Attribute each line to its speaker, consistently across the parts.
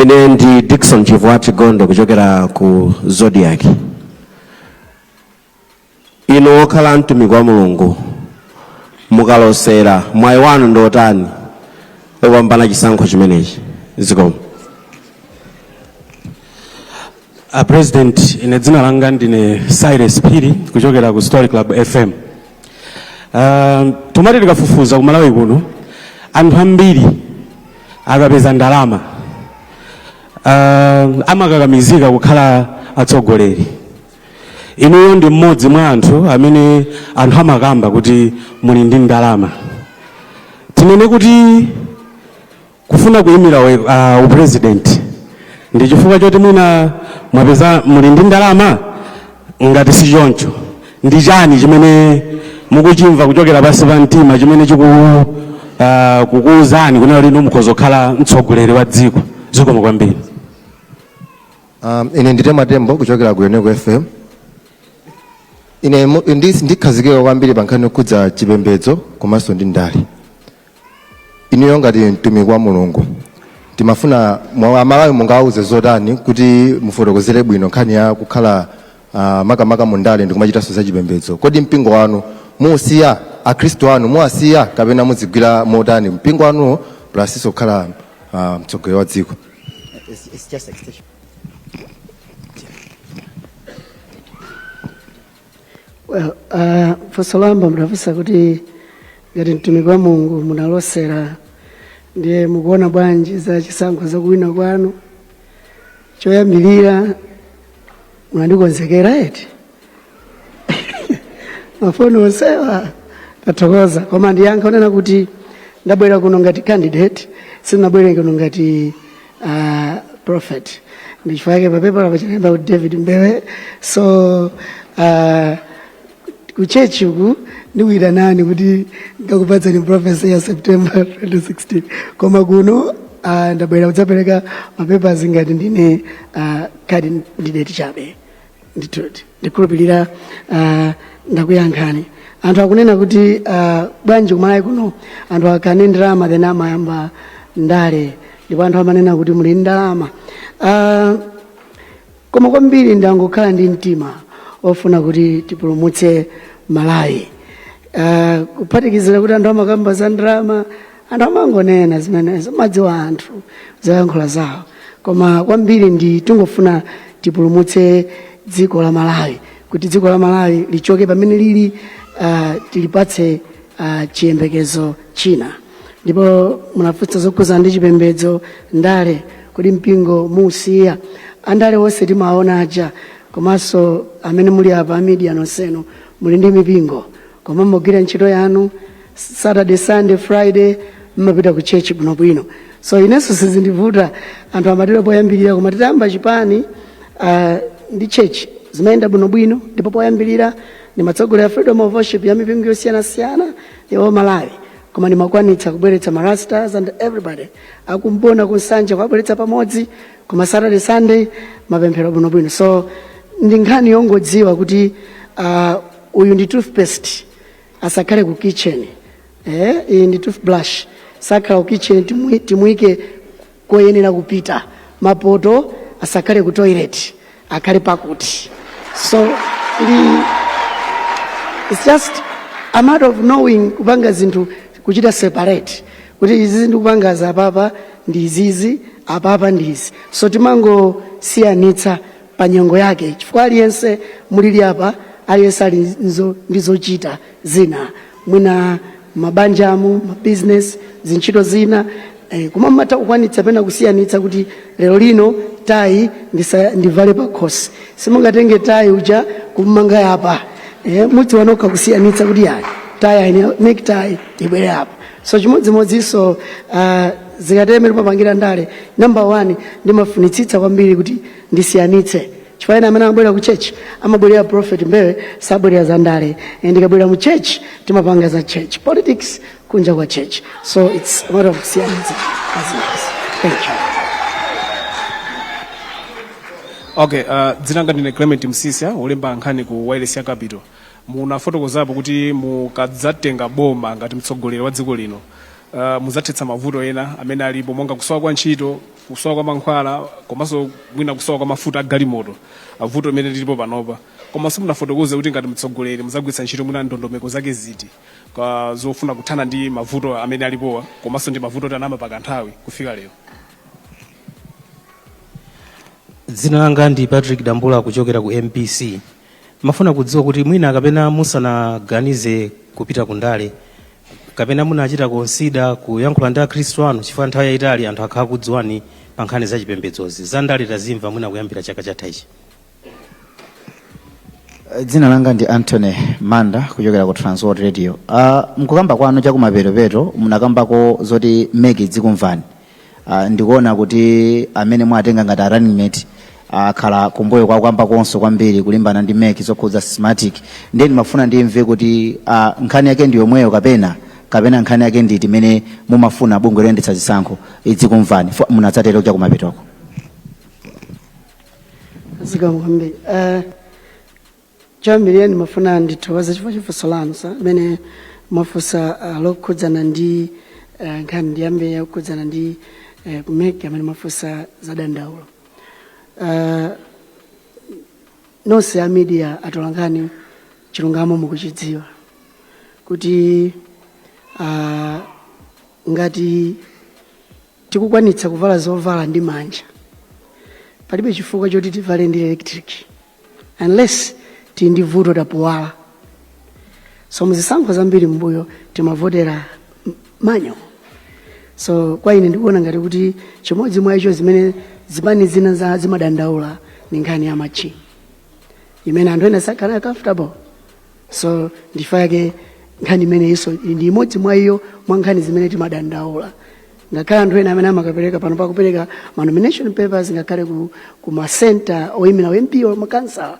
Speaker 1: ine ndi dickson chivwati gondo kuchokera ku zodiak Inu okhala mtumiki wa Mulungu mukalosera mwayi wanu ndi otani opambana chisankho chimenechi? Zikomo.
Speaker 2: A President, ine dzina langa ndine Cyrus Phiri kuchokera ku Story Club FM. Uh, timati tikafufuza ku Malawi kuno anthu ambiri akapeza ndalama uh, amakakamizika kukhala atsogoleri inuyo ndi mmodzi mwa anthu amene anthu amakamba kuti muli ndi ndalama tinene kuti kufuna kuyimira we- ah, upresident ndi chifukwa choti mwina mwapeza muli ndi ndalama ngati si choncho ndi chani chimene mukuchimva kuchokera pansi pa mtima chimene chiku ah, kukuwuzani kunena kuti inu mukhoza kukhala mtsogoleri wa dziko zikomo kwambiri
Speaker 3: Um, ine ndi Tema Tembo kuchokera ku Yoneco FM. Ine mu- ndi- ndikhazikika kwambiri pa nkhani yokhudza chipembedzo komanso ndi ndale. Inuyo ngati mtumiki wa Mulungu timafuna Amalawi mungawauze zotani kuti mufotokozere bwino nkhani ya kukhala ah, makamaka mu ndale ndi kumachitanso za chipembedzo. Kodi mpingo wanu muusiya Akhristu anu muwasiya kapena muzigwira motani mpingo wanuwo plus kukhala ah, mtsogoleri wa dziko? It's,
Speaker 4: it's just extension. Well, uh, funso loyamba munafunsa kuti ngati mtumiki wa Mulungu munalosera ndiye mukuona bwanji za chisankho za kuwina kwanu choyambirira mwandikonzekera eti mafunso onsewa tathokoza koma ndiyankha kunena kuti ndabwera kuno ngati candidate sinabwere kuno ngati uh, prophet ndichifukwa chake papepala pachinayamba kuti david mbewe so uh, kutchetchi uku ndikuyitanani kuti ndikakupatseni prophecy ya september 2016 koma kuno uh, ndabwera kudzapereka mapepazi ngati ndine uh, candidate chabe ndikhulupirira uh, ndakuyankhani anthu akunena kuti uh, bwanji kumalawi kuno anthu akakhala ndi ndalama then amayamba ndale ndipo anthu amanena kuti muli ndalama uh, koma kwambiri ndangokhala ndi mtima ofuna kuti tipulumutse malawi uh, kuphatikizira kuti anthu amakamba za ndalama anthu amangonena zimenezo mmadziwa anthu zoyankhula zawo koma kwambiri ndi tingofuna tipulumutse dziko la malawi kuti dziko la malawi lichoke pamene lili uh, tilipatse uh, chiyembekezo china ndipo munafunsa zokhuza ndi chipembedzo ndale kodi mpingo muusiya andale onse timaona aja komanso amene muli apa media nonsenu muli ndi mipingo koma mmagwira ntchito yanu saturday sunday friday mmapita ku church bwinobwino so inenso sizindivuta anthu amatero poyambirira koma titayamba chipani uh, ndi church zimayenda bwinobwino ndipo poyambirira ndimatsogolera freedom of worship ya mipingo yosiyanasiyana ya ku malawi koma ndimakwanitsa kubweretsa marastas and everybody akumbona kunsanja kuwabweretsa pamodzi koma saturday sunday mapemphero bwinobwino so ndi nkhani yongodziwa kuti uh, uyu ndi toothpaste asakhale ku kitchen eh, iyi ndi toothbrush sakhala ku kitchen timu- timuike koyenera kupita mapoto asakhale ku toilet akhale pakuti so ndi it's just a matter of knowing kupanga zinthu kuchita separate kuti izizi ndikupanga za apapa ndi izizi apapa ndi izi so timangosiyanitsa pa nyengo yake, chifukwa aliyense mulili apa, aliyense ali nzo- ndi zochita zina, mwina mabanjamo, mabizinesi, zintchito zina eh, koma mmatha kukwanitsa pena kusiyanitsa kuti lero lino tayi ndisa- ndivale pakhosi, simungatenge tayi uja kumanga apa eh, mudziwa nokha kusiyanitsa kuti yayi tayi aine- necktie ibwere apa so chimodzimodzinso uh, zikatera imene timapangira ndale number one ndimafunitsitsa kwambiri kuti ndisiyanitse chifukwa ena amene amabwera ku church amabwerera prophet mbewe sabwerera za ndale and ndikabwerera mu church timapanga za church politics kunja kwa church so it's a matter of siyanitsa as it is. thank
Speaker 5: you okay uh, dzina langa ndine clement msisya wolemba nkhani ku wayilesi ya capital Munafotokozapo kuti mukadzatenga boma ngati mtsogoleri wa dziko lino, uh, muzathetsa mavuto ena amene alipo monga kusowa kwa ntchito, kusowa kwa mankhwala komanso mwina kusowa kwa mafuta a galimoto, uh, vuto limene lilipo panopa. Koma simunafotokoze kuti ngati mtsogoleri muzagwiritsa ntchito mwina ndondomeko zake ziti pofuna kuthana ndi mavuto amene alipowa komanso ndi mavuto oti anayamba pa kanthawi kufika lero.
Speaker 6: Dzina langa ndi Patrick Dambula kuchokera ku MBC. Ndimafuna kudziwa kuti mwina kapena musanaganize kupita ku ndale, kapena munachita konsida kuyankhula ndi akhristu anu chifukwa nthawi yayitali anthu akhala akukudziwani pa nkhani za chipembedzozi. Za ndale tazimva mwina kuyambira chaka chatha
Speaker 7: ichi. Dzina langa ndi Anthony Manda kuchokera ku Transworld Radio. Uh, mkukamba kwanu chakumapetopeto munakambako zoti MEC idzikumvani. Uh, ndikuona kuti amene mwatenga ngati a running mate akhala uh, kumbuyo kukukambakonso kwambiri kulimbana ndi MEC zokhudza Smartmatic ndiye ndimafuna ndimve kuti uh, nkhani yake ndi yomweyo kapena kapena nkhani yake nditi imene mumafuna bungwe loyendetsa zisankho idzikumvani fo- munadzatero chakumapetoko
Speaker 4: zikomo kwambiri Eh, Choyambirira ndimafuna ndithokoze chifukwa cha funso lanu sir limene mwafunsa ah, lokhudzana ndi eh, nkhani ndiyambe yokhudzana ndi eh, ku MEC amene mwafunsa za dandaulo Ah, nonse a media atolankhani chilungamo mukuchidziwa kuti ah, ngati tikukwanitsa kuvala zovala ndi manja palibe chifukwa choti tivale ndi electric unless tili ndi vuto tapuwala so muzisankho zambiri mbuyo timavotera m- manual so kwa ine ndikuona ngati kuti chimodzi mwa icho zimene zipani zina za zimadandaula ni nkhani ya machini imene anthu ena sakhala nayo comfortable so ndi chifukwa chake nkhani imene ijaso ndi imodzi mwa iyo mwa nkhani zimene timadandaula ngakhale anthu ena amene amakapereka pano pakupereka ma nomination papers ngakhale ku, ku ma center oyimira u MP or makansala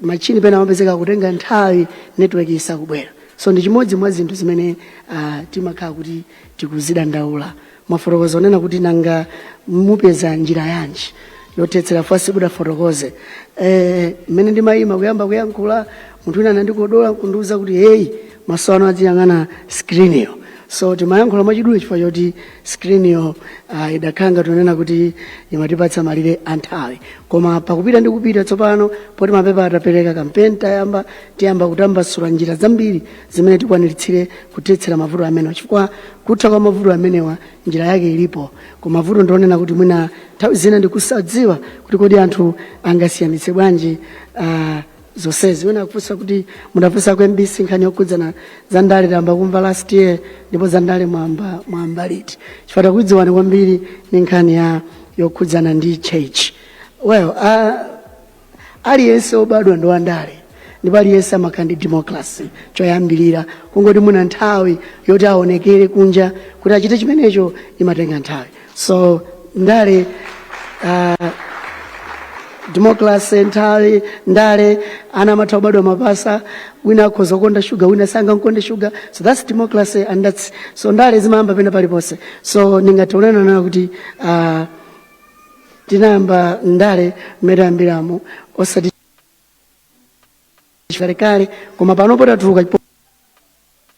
Speaker 4: machini pena amapezeka kutenga nthawi network isakubwera so ndi chimodzi mwa zinthu zimene uh, timakhala kuti tikuzidandaula mwafotokoza onena kuti nanga mupeza njira yanji yothetsera first ndifotokoze eh, mmene ndimayima kuyamba kuyankhula munthu wina anandikodola kundiuza kuti heyi maso anu adziyang'ana screen-yo so timayankhula mwachidule chifukwa choti screen-yo uh, idakhala ngati yonena kuti imatipatsa malire a nthawi koma pakupita ndi kupita tsopano poti mapepa tapereka kampeni tayamba tiyamba kutambasula njira zambiri zimene tikwaniritsire kuthetsera mavuto amenewa chifukwa kutha kwa mavuto amenewa njira yake ilipo koma mavuto ndionena kuti mwina nthawi zina ndikusadziwa kuti kodi anthu angasiyanitse bwanji uh, zonsezi wina akufunsa kuti munafunsa ku mbc nkhani yokhudzana za ndale tayamba kumva last year ndipo za ndale mwamba mwamba liti chifukwa takudziwani kwambiri ni nkhani ya yokhudzana ndi church well uh, aliyense obadwa ndi wandale ndipo aliyense amakhala ndi democracy choyambirira kungoti mwina nthawi yoti aonekere kunja kuti achite chimenecho imatenga nthawi so ndale uh, democracy nthawi ndale ana amatha kubadwa mapasa wina akhoza kukonda shuga wina asangamkonde shuga so that's democracy and that's so ndale zimayamba pena paliponse so ndingathe kunena kuti uh, tinayamba ndale mmene tayambiramo osati chikalekale koma panopo tatuluka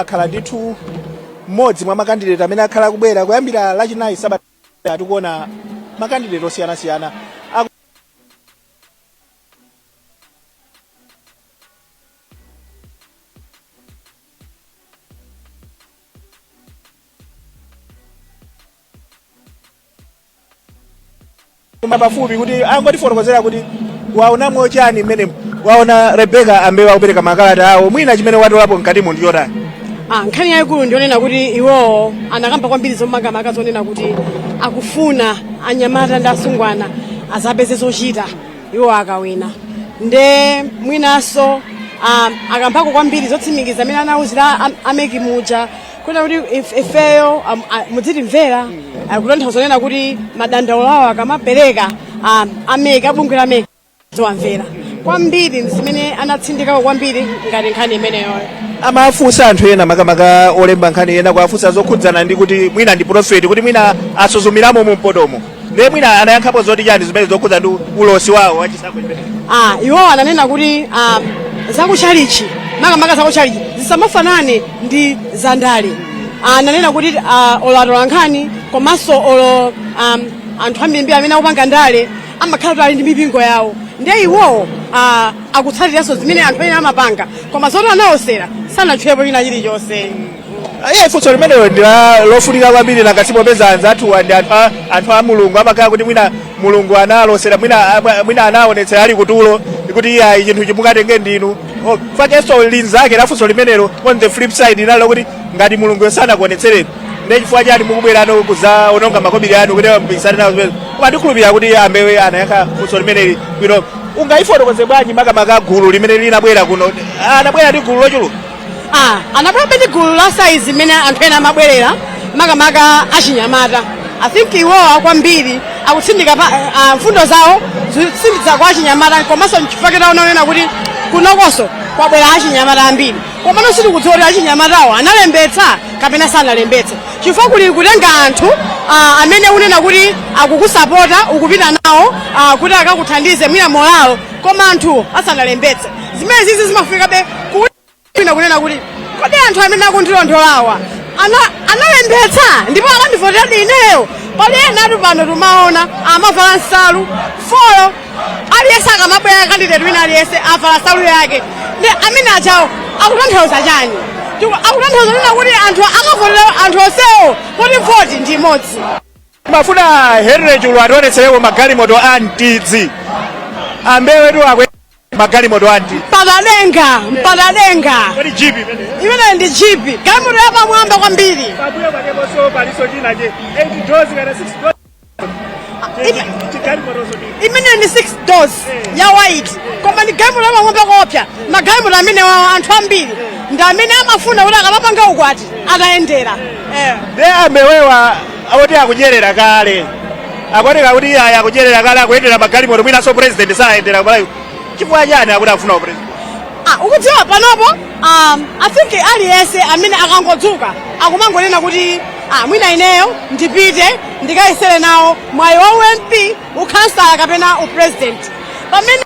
Speaker 8: akhala ndithu mmodzi mwa makandideti amene akhala kubwera kuyambira lachinayi sabata tikuona makandideti osiyanasiyana aku- koma pafupi kuti angotifotokozera kuti waona mochani mmene waona Rebeka amene wakupereka makalata awo mwina chimene watolapo mkatimu ndi chotani Ah, nkhani
Speaker 9: yayikulu ndiyonena kuti iwowo anakamba kwambiri zomakamaka zonena kuti akufuna anyamata ndi asungwana azapeze zochita iwo akawina nde mwinanso ah, akambako kwambiri zotsimikiza amene anawuzira am- ameki muja kunena kuti if- ifeyo am- a- mudzitimvera kutanthauza zonena kuti madandaulo awo akamapereka um, ameki abungwe la meki aziwamvera kwambiri zimene anatsindikako kwambiri ngati nkhani imeneyoyo amawafunsa
Speaker 8: anthu ena makamaka olemba nkhani ena kuwafunsa zokhudzana ndi kuti mwina ndi profeti kuti mwina asuzumiramo mu mpotomo ndiye mwina anayankhapo zoti chani zimene zokhudza ndi ulosi wawo wachisankho chimene ah, iwowo
Speaker 9: ananena kuti ah, zakuchalichi makamaka zakuchalichi zisamafanane ndi zandale ah, ananena kuti ah, olo atolankhani komanso olo um, anthu ambirimbiri amene akupanga ndale amakhala kuti ali ndi mipingo yawo ndiye iwowo ah, akutsatiranso zimene anthu ena amapanga koma zoti analosera sanatchulepo china chilichonse iye
Speaker 8: funso limenelo ndi la- lofunika kwambiri ngati popeza anzathuwa ndi anthu a- anthu a mulungu amakhala kuti mwina mulungu analosera mwina amwa- mwina anaonetsera ali kutulo kuti iyayi chinthuchi mukatenge ndinu Oh, pakenso linzake la funso limenelo on the flip side nalo kuti ngati mulungu sanakuonetsereni ndiye chifukwa chani mukubwerano kudzaononga makobiri anu kuti mupikisane nawo zimene koma ndikhulupirira kuti a Mbewe anayankha funso limeneli bwino ungayifotokoze bwanji makamaka gulu limene linabwera kuno anabwera ndi gulu lochuluka Ah,
Speaker 9: anabwerabe ndi gulu la saizi mmene anthu ena amabwerera makamaka achinyamata i think iwowa kwambiri akutsindika pa ah, mfundo zawo zikutsindika kwa achinyamata komanso nchifukwa chake taona kunena kuti kunokonso kwabwera achinyamata ambiri komano sitikudziwa kuti achinyamatawo analembetsa kapena sanalembetse chifukwa kuli kutenga anthu ah, amene unena kuti akukusapota ukupita nawo ah, kuti akakuthandize mwina molalo koma anthuwo sanalembetse zimenezizi zimafikabe kuwina kunena kuti kodi anthu amene akundilondolawa ana- analembetsa ndipo anandivoteradi ineyo pali enatu pano tumaona amavala nsalu folo aliyense akamabwera kandideti wina aliyense avala nsalu yake ndi amene ujawo akutanthauza chani Ndipo akutanthauza kunena kuti anthu akavotera anthu onsewo poti voti ndi imodzi timafuna
Speaker 8: a henry chulu ationetsereko magalimoto a mtidzi a mbewetu akwe magalimoto anji mpaka denga mpaka denga kodi jipi imene imeneyo ndi
Speaker 9: jipi galimoto yapamwamba kwambiri pambuyo pakeponso
Speaker 8: palinso china che 8 doors kana 6 doors Ife-
Speaker 9: chigalimotoso ndi imeneyo ndi 6 doors ya white koma ndi galimoto yapamwamba koopsya magalimoto amenewawo anthu ambiri ndi amene amafuna kuti akamapanga ukwati atayendera eh. nde
Speaker 8: a mbewewa akuti akudyerera kale akuoneka kuti iyayi akudyerera kale akuyendera magalimoto mwinanso president sayendera kumalawi chifukwa chani akuti akufuna upresident Ah, ukudziwa
Speaker 9: panopo um, i think aliyense amene akangodzuka akumangonena kuti ah, mwina ineyo ndipite ndikayesere nawo mwayi wa ump ukhansala kapena upresident pamene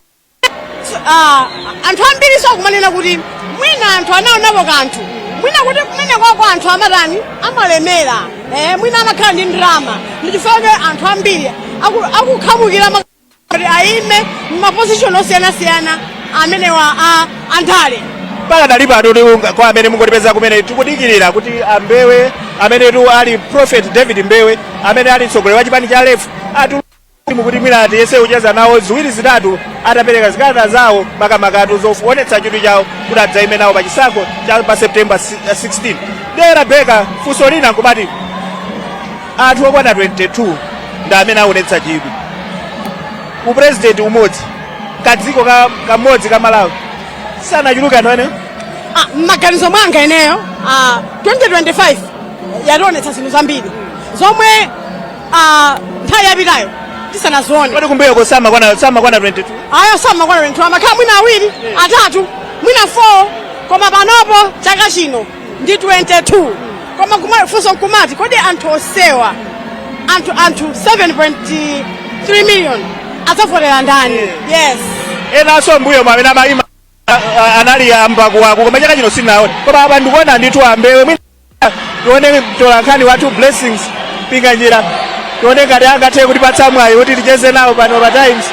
Speaker 9: Ah, anthu ambirinso akumanena kuti mwina anthu anaonapo kanthu mwina kuti kumenekuja anthu amatani amalemera eh, mwina amakhala ndi ndalama ndichifukwa chake anthu ambiri aku- akukhamukira ma- kuti ayime mumapozishoni osiyanasiyana amenewa a ndale
Speaker 8: pakadali pano tiunga- kwa amene mungotipeza kumene tikudikirira kuti a mbewe amenetu ali prophet david mbewe amene ali mtsogoleri wa chipani cha lefu ati- timu kuti mwina tiyese kucheza nawo ziwiri zitatu atapereka zikalata zawo makamakatu zoonetsa chidwi chawo kuti adzaime nawo pa chisankho cha pa september si- 16 ndiye rabeka funso lina nkumati anthu okwana 22 ndi amene aonetsa chidwi ku upresident umodzi kadziko ka- kamodzi ka malawi sanachuluke anthu amenewo Ah, mmaganizo
Speaker 9: mwanga ineyo ah, 2025 yationetsa zinthu zambiri zomwe Ah, nthawi yapitayo tisanazione Kodi kumbuyoko
Speaker 8: samakwana samakwana 22. ayo
Speaker 9: samakwana 22 amakhala mwina awiri atatu mwina 4 koma panopo chaka chino ndi 22 koma kuma- funso nkumati kodi anthu onsewa anthu anthu 7.3 million adzavotera ndani yes Enanso
Speaker 8: mbuyomu amene amaima anali a mbakuwaku koma chaka chino sindinawaone koma apa ndikuona ndithu a mbewe mwina tione mtolankhani wathu blessings pinganjira tione ngati angathe kutipatsa mwayi kuti ticheze nawo pano pa times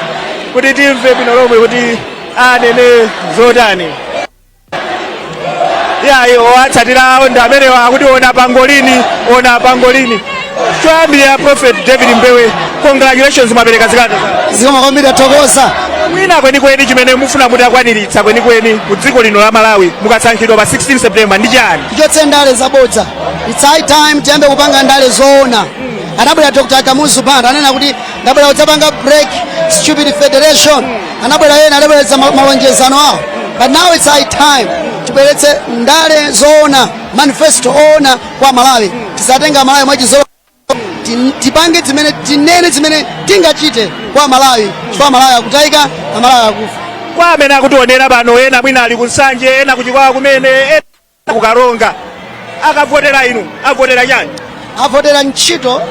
Speaker 8: kuti timve bwino lomwe kuti anene zotani yayi owatsatirawo ndi amenewa akuti ona pangolini ona pangolini choyambirira
Speaker 10: prophet
Speaker 8: david mbewe congratulations mwapereka zikalata zanu zikomo
Speaker 10: kwambiri
Speaker 8: athokoza mwina kwenikweni chimene mufuna muti mukwaniritse kwenikweni mu dziko lino la malawi mukasankhidwa pa 16 september ndi chani tichotse ndale zabodza
Speaker 10: its high time tiyambe kupanga ndale zoona anabwera dr kamuzu banda ananena kuti ndabwera kudzapanga break stupid federation anabwera ena anabweretsa ma- malonjezano awo but now its high time tibweretse ndale zoona manifesto oona kwa malawi tisatenge amalawi mwachizolowezi Tin- tipange zimene tinene zimene tingachite kwa malawi chifukwa amalawi akutayika amalawi akufa kwa amene akutionera
Speaker 8: pano ena mwina ali kunsanje ena kuchikwawa kumene ena kukaronga akavotera inu avotera chani avotera
Speaker 10: ntchito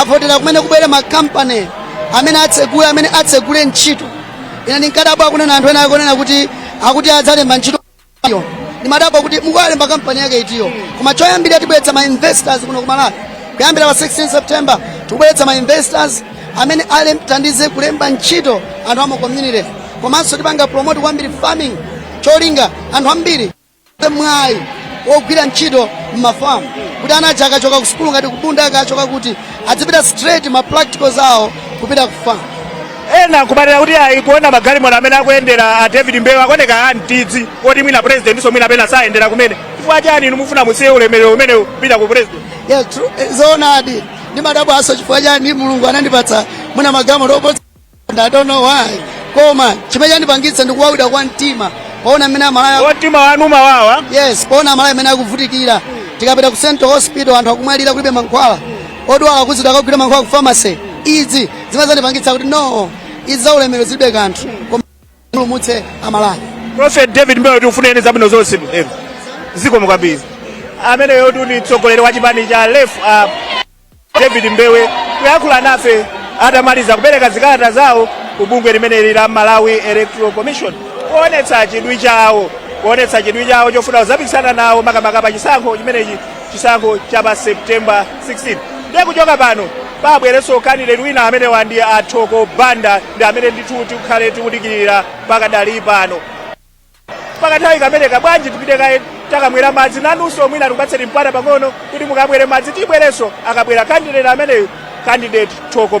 Speaker 10: avotera kumene kubwere makampani amene atsegule amene atsegule ntchito ine ndinkadabwa akunena anthu ena akunena kuti akuti adzalemba ntchito Iyo. Ndimadabwa kuti mukuwalemba kampani yake itiyo. Koma choyambira tibweretsa ma investors kuno ku Malawi. Kuyambira pa 16 September tibweretsa ma investors amene ale- athandize kulemba ntchito anthu ama community. Komanso tipanga promote kwambiri farming cholinga anthu ambiri akhale mwayi wogwira ntchito m'mafamu kuti ana aja akachoka ku sukulu ngati kubunda akachoka kuti adzipita straight ma practicals awo kupita ku farm. ena
Speaker 8: nkumanena kuti ayi kuona magalimoto amene akuyendera a david mbewe akuoneka antidzi koti mwina presidentinso mwina pena sayendera kumene chifukwa chani inu mufuna musiye ulemerero umenewu kupita ku president yes true Eh,
Speaker 10: zoonadi ndimadabwanso chifukwa chani mulungu anandipatsa mwina magalimoto oposa and i don't know why koma chimene chandipangitsa ndi kuwawidwa kwa mtima poona mmene amalawi o mtima wanu umawawa
Speaker 8: yes poona amalawi mmene
Speaker 10: akuvutikira tikapita ku central hospital anthu akumwalira kulibe mankhwala odwala akuuzidwa akagule mankhwala ku pharmacy izi zimazandipangitsa kuti no izi za ulemero zilibe kanthu koma ndipulumutse amalawi prophet david
Speaker 8: mbewe tikufunireni zabwino zonse m'tero zikomo kwambiri ameneyotu ndi mtsogoleri wa chipani cha lef uh, david mbewe kuyankhula nafe atamaliza kupereka zikalata zawo ku bungwe limeneli la malawi electoral commission kuonetsa chidwi chawo kuonetsa chidwi chawo chofuna kuzapikisana nawo makamaka pa chisankho chimenechi chisankho cha pa September 16 ndiye kuchoka pano pabwerenso kandidate wina amene uwa ndi athoko banda ndi amene ndithu tikhale tikudikirira pakadali pano pakathawi kameneka bwanji tipite kaye tikamwere madzi nanunso mwina tikupatseni mpata pang'ono kuti mukamwere madzi tibwerenso akabwera kandidate ameneyu kandidate thoko